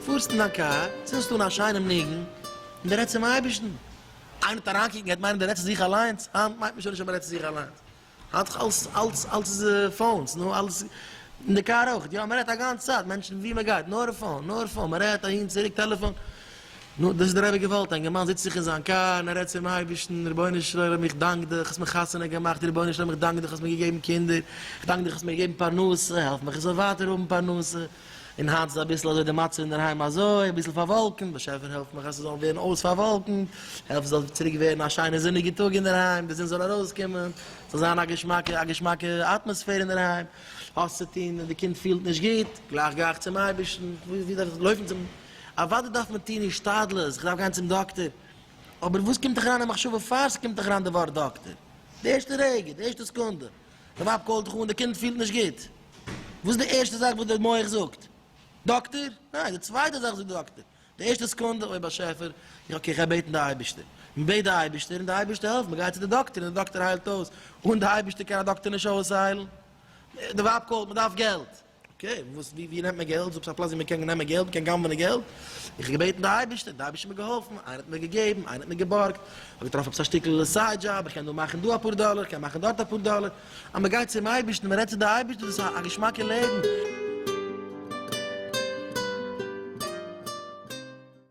פארסט אין דיין קאר, צינדסט אן א שיינעם ניגון, און דו רעדסט צום אייבערשטן. איינער וועט אריינקוקן, ער וועט מיינען דו רעדסט צו זיך אליינס. היינט מיינט מען שוין נישט אז מען רעדט צו זיך אליינס. האלט זיך אלס אלס אלס איז פאונס נו אלס אין די קאר אויך יא מ'רעדט א גאנץ צייט מענטשן ווי מ'גייט נאר פאון נאר פאון מ'רעדט אהין צוריק טעלעפאן נו דאס איז דער אייביגע וועלט א אינגערמאן זיצט זיך אין זיין קאר און ער רעדט צום אייבערשטן רבונו של עולם איך דאנק דיך האסט מיר חתונה געמאכט רבונו של עולם איך דאנק דיך האסט מיר געגעבן קינדער איך דאנק דיך האסט מיר געגעבן פרנסה העלף מיך איך זאל ווייטער האבן פרנסה און היינט איז אביסל אזוי די מצב אינדערהיים אזוי אביסל פארוואלקענט, באשעפער העלף מיך אז ס'זאל ווערן אויס פארוואלקענט, העלף ס'זאל צוריק ווערן א שיינע זוניגע טאג אינדערהיים, די זון זאל ארויסקומען, ס'זאל זיין א געשמאקע א געשמאקע אטמאספער אינדערהיים, האסט צו טון און די קינד פילט נישט גוט, גלייך גיי איך צום אייבערשטן, ווי דארף איך לויפן צום, אוודאי דארף מען טון השתדלות, כ'דארף גיין צום דאקטער, אבער וואס קומט דיך אריין אין מחשבה פאר ס'קומט דיך אריין די ווארט דאקטער? די ערשטע רגע, די ערשטע סקונדע. די ווייב קאלט דיך אן, די קינד פילט נישט גוט. וואס איז די ערשטע זאך וואס די מח זאגט? דאקטער? ניין, די צווייטע זאך זאגט די דאקטער. די ערשטע סעקונדע, אוי באשעפער, איך אקעי, כ'גיי בעטן די אייבערשטער. מען בעט די אייבערשטער און די אייבערשטער העלפט, מען גייט צו די דאקטער און די דאקטער היילט אויס. אן די אייבערשטער קען א דאקטער נישט אויסהיילן. די ווייב קאלט, מען דארף געלט. אקעי, וואס ווי ווי נעמט מען געלט? זאגסט א פלאץ ווי מען קען נעמען געלט, מען קען גנב'נען געלט? איך האב געבעטן די אייבערשטער, די אייבערשטער האט מיר געהאלפן, איינער האט מיר געגעבן, איינער האט מיר געבארגט, איך האב געטראפן עפעס א שטיקל סייד דזשאב, איך קען דא מאכן דא אפאר דאלער, איך קען מאכן דארט אפאר דאלער, אז מען גייט צום אייבערשטן, מען רעדט צו די אייבערשטער, דאס איז א געשמאקע לעבן.